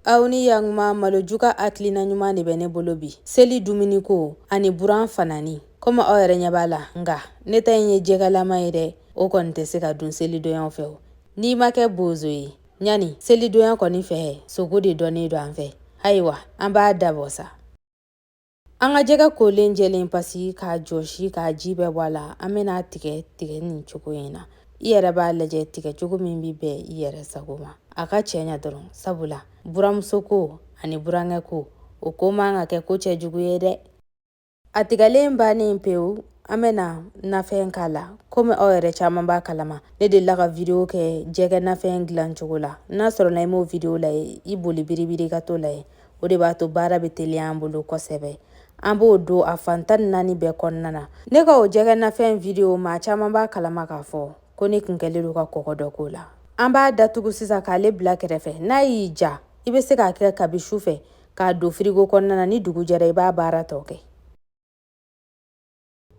aw ni yanguma malo juka hakilina ɲuman de bɛ ne bolo bi seli dumuniko ani buran fanani komi aw yɛrɛ ɲɛ b'a la nka ne ta in ye jɛgɛlama ye dɛ o kɔni tɛ se ka dun selidonyaw fɛ o n'i ma kɛ bozo ye ɲani selidonya kɔni fɛ sogo de dɔnnen don an fɛ ayiwa an b'a dabɔ sa An ka jɛgɛ kolen jɛlen pasi k'a jɔsi k'a ji bɛɛ bɔ a la an bɛna tigɛ tigɛ ni cogo in na i yɛrɛ b'a lajɛ tigɛ cogo min bɛ bɛn i yɛrɛ sago ma a ka cɛ ɲɛ dɔrɔn sabula buranmuso ko ani burankɛ ko o ko man ka kɛ ko cɛ jugu ye dɛ a tigɛlen bannen pewu an bɛna nafɛn k'a la komi aw yɛrɛ caman b'a kalama ne delila ka video kɛ jɛgɛ nafɛn dilan cogo la n'a sɔrɔla i m'o video lajɛ i boli biribiri ka t'o lajɛ o de b'a to baara bɛ teliya an bolo kosɛbɛ an b'o don a fan tan ni naani bɛɛ kɔnɔna na ne ka o jɛgɛ nafɛn video maa caman b'a kalama k'a fɔ ko ne kun kɛlen don ka kɔgɔ dɔ k'o la an b'a datugu sisan k'ale bila kɛrɛfɛ n'a y'i ja i bɛ se k'a kɛ kabi su fɛ k'a don firigo kɔnɔna na ni dugu jɛra i b'a baara tɔ kɛ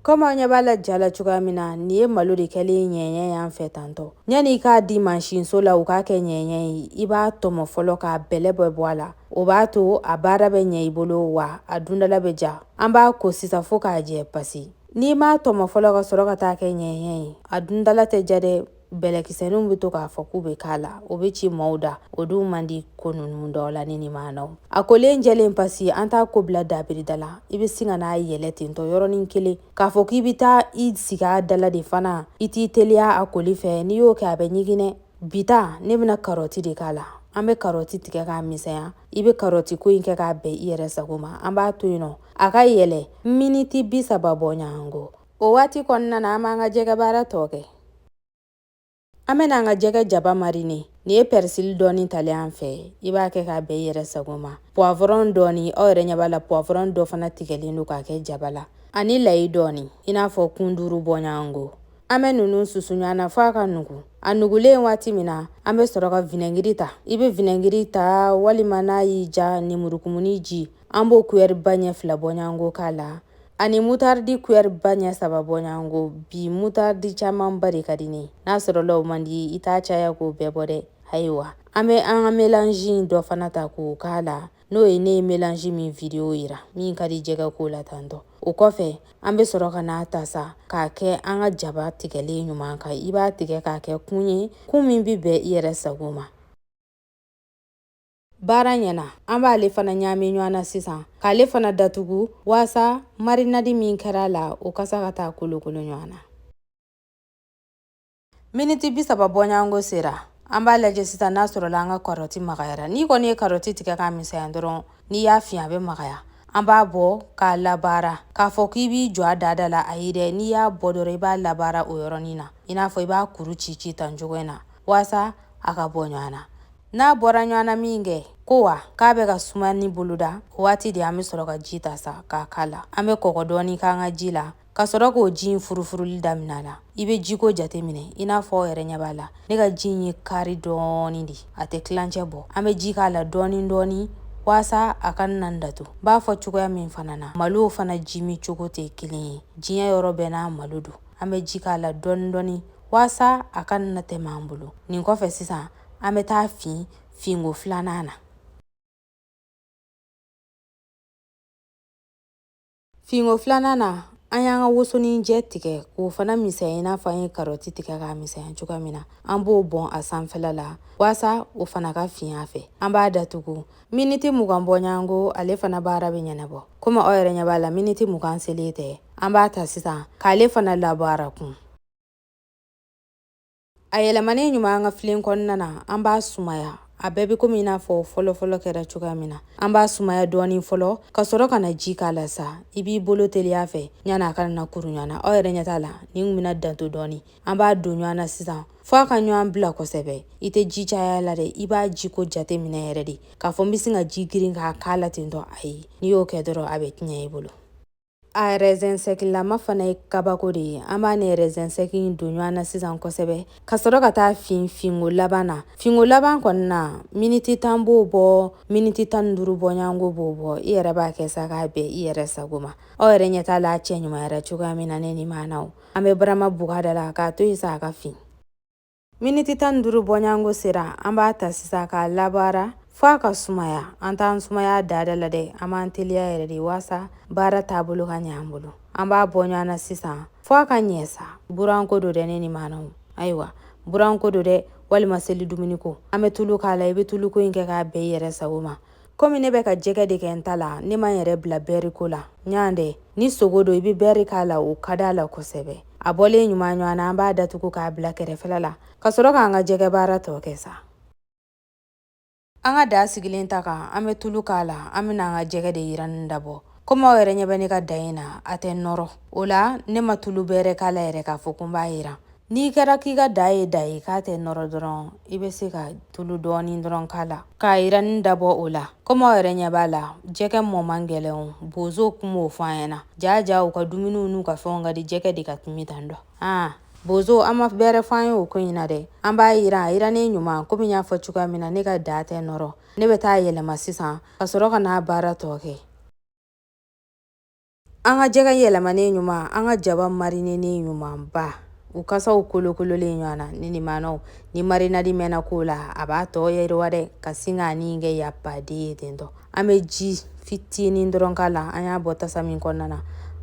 Komi an ɲɛ b'a la ja la cogoya min na nin ye malo de kɛlen ɲɛɲɛ y'an fɛ tantɔ yanni i k'a di mansinso la u k'a kɛ ɲɛɲɛ ye i b'a tɔmɔ fɔlɔ k'a bɛlɛ bɛɛ bɔ a la o b'a to a baara bɛ ɲɛ i bolo wa a dundala bɛ ja an b'a ko sisan fo k'a jɛ pasi n'i m'a tɔmɔ fɔlɔ ka sɔrɔ ka taa kɛ ɲɛɲɛ ye a dundala tɛ ja dɛ bɛlɛkisɛninw bɛ to k'a fɔ k'u bɛ k'a la o bɛ ci maaw da o dun man di ko ninnu dɔw la ni nin ma na a kolen jɛlen pasi an t'a ko bila dabirida la i bɛ sin ka n'a yɛlɛ tentɔ yɔrɔnin kelen k'a fɔ k'i bɛ taa i sigi a dala de fana i t'i teliya a koli fɛ n'i y'o kɛ a bɛ ɲiginɛ bita ne bɛna karɔti de k'a la an bɛ karɔti tigɛ k'a misɛnya i bɛ karɔti ko in kɛ k'a bɛn i yɛrɛ sago ma an b'a to yen nɔ a ka yɛlɛ miniti bi saba bɔɲɔgɔnko O waati kɔnɔna na an b'an ka jɛgɛ baara tɔ kɛ an bɛna an ka jɛgɛ jaba marine nin ye pɛrisili dɔɔni talen an fɛ i b'a kɛ k'a bɛn i yɛrɛ sago ma puwavɔrɔn dɔɔni aw yɛrɛ ɲɛ b'a la puwavɔrɔn dɔ fana tigɛlen don k'a kɛ jaba la ani layi dɔɔni i n'a fɔ kun duuru bɔɲɔgɔnko an bɛ ninnu susu ɲɔgɔn na fo a ka nugu a nugulen waati min na an bɛ sɔrɔ ka vinɛgiri ta i bɛ vinɛgiri ta walima n'a y'i ja nemurukumuni ji an b'o kuyɛriba ɲɛ fila bɔɲɔgɔnko k'a la ani mutaridi kuyɛriba ɲɛ saba bɔɲɔgɔnko bi mutaridi camanba de ka di ne n'a sɔrɔla o man di i t'a caya k'o bɛɛ bɔ dɛ ayiwa an bɛ an ka melanzi in dɔ fana ta k'o k'a la n'o ye ne ye melanzi min vidiyo yira min ka di jɛgɛ ko la tantɔ o kɔfɛ an bɛ sɔrɔ ka n'a ta sa k'a kɛ an ka jaba tigɛlen ɲuman kan i b'a tigɛ k'a kɛ kun ye kun min bɛ bɛn i yɛrɛ sago ma baara ɲɛna an b'ale fana ɲaami ɲɔgɔn na sisan k'ale fana datugu waasa marinadi min kɛra a la o kasa ka taa kolokolo ɲɔgɔn na miniti bi saba bɔɲɔgɔnko sera an b'a lajɛ sisan n'a sɔrɔla an ka karɔti magayara n'i kɔni ye karɔti tigɛ k'a misɛnya dɔrɔn n'i y'a fin a bɛ magaya an b'a bɔ k'a labaara k'a fɔ k'i b'i jɔ a dada la ayi dɛ n'i y'a bɔ dɔrɔn i b'a labaara o yɔrɔnin na i n'a fɔ i b'a kuru ci ci tan cogo in na waasa a ka bɔ ɲɔgɔn na n'a bɔra ɲɔgɔn na min kɛ ko wa k'a bɛ ka suma ni boloda o waati de an bɛ sɔrɔ ka ji ta sa k'a k'a la an bɛ kɔgɔ dɔɔni k'an ka ji la ka sɔrɔ k'o ji in furufuruli daminɛ la i bɛ jiko jate minɛ i n'a fɔ aw yɛrɛ ɲɛ b'a la ne ka ji in ye kari dɔɔni de a tɛ tilancɛ bɔ an bɛ ji k'a la dɔɔni dɔɔni waasa a kana datu b'a fɔ cogoya min fana na malow fana ji min cogo tɛ kelen ye diɲɛ yɔrɔ bɛɛ n'a malo don an bɛ ji k'a la dɔɔni dɔɔni waasa a kana tɛmɛ an bolo nin kɔfɛ sisan an bɛ t'a fin finko filanan na finko filanan na an y'an ka wosonin jɛ tigɛ k'o fana misɛnya i n'a fɔ an ye karɔti tigɛ k'a misɛnya cogoya min na an b'o bɔn a sanfɛla la waasa o fana ka fin a fɛ an b'a datugu miniti mugan bɔɲɔgɔnko ale fana baara bɛ ɲɛnabɔ komi aw yɛrɛ ɲɛ b'a la miniti mugan selen tɛ an b'a ta sisan k'ale fana labaara kun A yɛlɛmanen ɲuman an ka filen kɔnɔna na an b'a sumaya a bɛɛ bɛ komi i n'a fɔ fɔlɔfɔlɔ kɛra cogoya min na an b'a sumaya dɔɔni fɔlɔ ka sɔrɔ ka na ji k'a la sa i b'i bolo teliya a fɛ ɲani a kana na kuru ɲɔgɔn na aw yɛrɛ ɲɛ t'a la ni n bɛna danto dɔɔni an b'a don ɲɔgɔn na sisan fɔ a ka ɲɔgɔn bila kosɛbɛ i tɛ ji caya la dɛ i b'a ji ko jate minɛ yɛrɛ de k'a fɔ n bɛ sin ka ji girin k'a k'a la tentɔ ayi n'i y'o kɛ dɔrɔn a bɛ tiɲɛ i bolo A rɛzɛnsɛkilama fana ye kabako de ye an b'a ni rɛzɛnsɛki in don ɲɔgɔn na sisan kosɛbɛ ka sɔrɔ ka t'a fin finko laban na finko laban kɔnɔna na miniti tan b'o bɔ miniti tan ni duuru bɔɲɔgɔnko b'o bɔ i yɛrɛ b'a kɛ sa k'a bɛn i yɛrɛ sago ma aw yɛrɛ ɲɛ t'a la cɛ ɲuman yɛrɛ cogoya min na ne ni maana an bɛ barama bugada la k'a to yen sa a ka fin Miniti tan ni duuru bɔɲɔgɔnko sera an b'a ta sisan k'a labaara f'a ka sumaya an t'an sumaya dada la dɛ an b'an teliya yɛrɛ de waasa baara taabolo ka ɲɛ an bolo an b'a bɔ ɲɔgɔn na sisan fɔ a ka ɲɛ sa buranko don dɛ ne ni maanaw ayiwa buranko don dɛ walima seli dumuni ko an bɛ tulu k'a la i bɛ tuluko in kɛ k'a bɛn i yɛrɛ sago ma komi ne bɛ ka jɛgɛ de kɛ n ta la ne ma n yɛrɛ bila bɛri ko la yan dɛ ni sogo don i bɛ bɛri k'a la o ka d'a la kosɛbɛ a bɔlen ɲuman ɲɔgɔn na an b'a datugu k'a bila kɛrɛfɛla la ka sɔrɔ k'an ka jɛgɛ baara tɔ kɛ sa an ka daa sigilen ta kan an bɛ tulu k'a la an bɛna an ka jɛgɛ de yiranni dabɔ komi aw yɛrɛ ɲɛ bɛ ne ka daa in na a tɛ nɔrɔ o la ne ma tulu bɛrɛ k'a la yɛrɛ k'a fɔ ko n b'a yiran N'i kɛra k'i ka daa ye daa ye k'a tɛ nɔrɔ dɔrɔn i bɛ se ka tulu dɔɔni dɔrɔn k'a la k'a yiranni dabɔ o la kɔmi aw yɛrɛ ɲɛ b'a la jɛgɛ mɔ man gɛlɛn bozo kun m'o fɔ an ɲɛna jaa jaa u ka dumuniw n'u ka fɛnw ka di jɛgɛ de ka timi tan dɔ aa bozo aw ma bɛrɛ fɔ an ye o ko in na dɛ an b'a yiran a yirannen ɲuman komi n y'a fɔ cogoya min na ne ka daa tɛ nɔrɔ ne bɛ taa yɛlɛma sisan ka sɔrɔ ka n'a baara tɔ kɛ An ka jɛgɛ yɛlɛmanen ɲuman an ka jaba marinenen ɲumanba u kasaw kolokololen ɲɔgɔn na ne ni maanaw ni marinadi mɛnna ko la a b'a tɔ yiriwa dɛ ka sin ka nin kɛ y'a pas deux ye tentɔ an bɛ ji fitinin dɔrɔn k'a la an y'a bɔ tasa min kɔnɔna na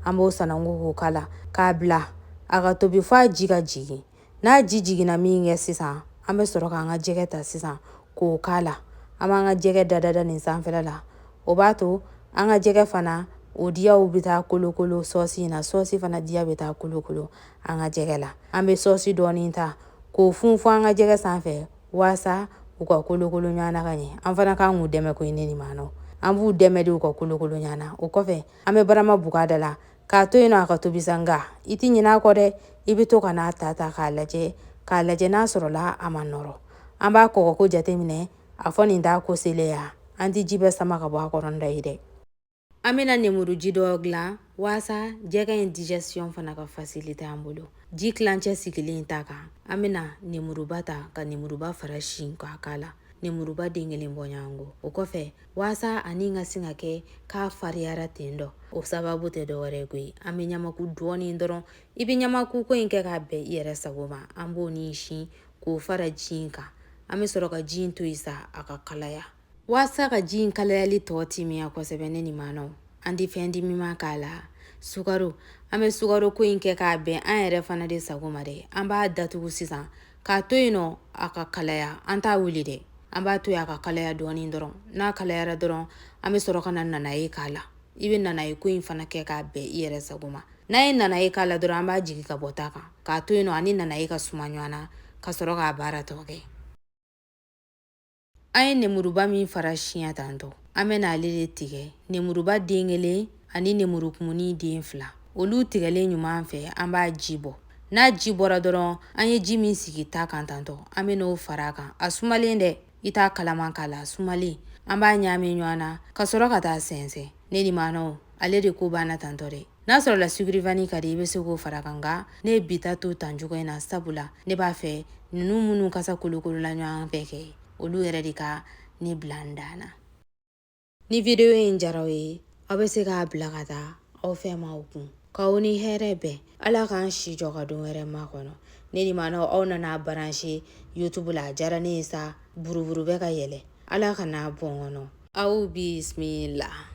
an b'o sananko k'o k'a la k'a bila a ka tobi fɔ a ji ka jigin n'a ji jiginna min kɛ sisan an bɛ sɔrɔ k'an ka jɛgɛ ta sisan k'o k'a la an b'an ka jɛgɛ dadada nin sanfɛla la o b'a to an ka jɛgɛ fana o diyaw bɛ taa kolokolo sɔsi in na sɔsi fana diya bɛ taa kolokolo an ka jɛgɛ la an bɛ sɔsi dɔɔni ta k'o funfun an ka jɛgɛ sanfɛ waasa u ka kolokolo ɲɔgɔn na ka ɲɛ an fana kan k'u dɛmɛ ko ne ni maa nɔ an b'u dɛmɛ de u ka kolokolo ɲɔgɔn na o kɔfɛ an bɛ barama bugada la k'a to yen nɔ a ka tobi sa nka i tɛ ɲinɛ a kɔ dɛ i bɛ to ka n'a ta ta k'a lajɛ k'a lajɛ n'a sɔrɔla a ma nɔrɔ an b'a kɔgɔko jateminɛ a fɔ nin t'a ko selen ya an tɛ ji bɛɛ sama ka bɔ a kɔrɔ dɔ ye dɛ an bɛna nemuru ji dɔ dilan waasa jɛgɛ in digestion fana ka fasilite an bolo ji tilancɛ sigilen ta kan an bɛna nemuruba ta ka nemuruba fara siɲɛ k'a k'a la nemuruba den kelen bɔɲɔgɔnko o kɔfɛ waasa ani ka sin ka kɛ k'a fariyara ten dɔ o sababu tɛ dɔwɛrɛ ye koyi an bɛ ɲamaku dɔɔnin dɔrɔn i bɛ ɲamaku ko in kɛ k'a bɛn i yɛrɛ sago ma an b'o ni siɲɛ k'o fara ji in kan an bɛ sɔrɔ ka ji in to yen sa a ka kalaya waasa ka ji in kalayali tɔ timiya kosɛbɛ ne ni maanaw an tɛ fɛn timiman k'a la sukaro an bɛ sukaro ko in kɛ k'a bɛn an yɛrɛ fana de sago ma dɛ an b'a datugu sisan k'a to yen nɔ a ka kalaya an t'a wuli dɛ an b'a to yen a ka kalaya dɔɔnin dɔrɔn n'a kalayara dɔrɔn an bɛ sɔrɔ ka na nanaye k'a la i bɛ nanaye ko in fana kɛ k'a bɛn i yɛrɛ sago ma n'an ye nanaye k'a la dɔrɔn an b'a jigin ka bɔ ta kan k'a to yen nɔ ani nanaye ka suma ɲɔgɔn na ka sɔrɔ k'a baara tɔ kɛ An ye nemuruba min fara siɲɛ tantɔ an bɛna ale de tigɛ nemuruba den kelen ani nemurukumuni den fila olu tigɛlen ɲuman fɛ an b'a ji bɔ n'a ji bɔra dɔrɔn an ye ji min sigi ta kan tantɔ an bɛna o fara a kan a sumalen dɛ i t'a kalaman k'a la a sumalen an b'a ɲaami ɲɔgɔn na ka sɔrɔ ka taa sɛnsɛn ne ni maanaw ale de ko banna tantɔ dɛ n'a sɔrɔla sucre vanillé ka di i bɛ se k'o far'a kan nka ne ye bi ta to tan cogo in na sabula ne b'a fɛ ninnu minnu kasa kolokolola ɲɔgɔn fɛ kɛ olu yɛrɛ de ka ne bila n dan na ni video in diyara aw ye aw bɛ se k'a bila ka taa aw fɛ maaw kun k'aw ni hɛrɛ bɛn ala k'an si jɔ ka don wɛrɛ makɔnɔ ne ni maanaw aw nana baranse youtube la a diyara ne ye sa buruburu bɛ ka yɛlɛ ala kana bɔn kɔnɔ aw bismila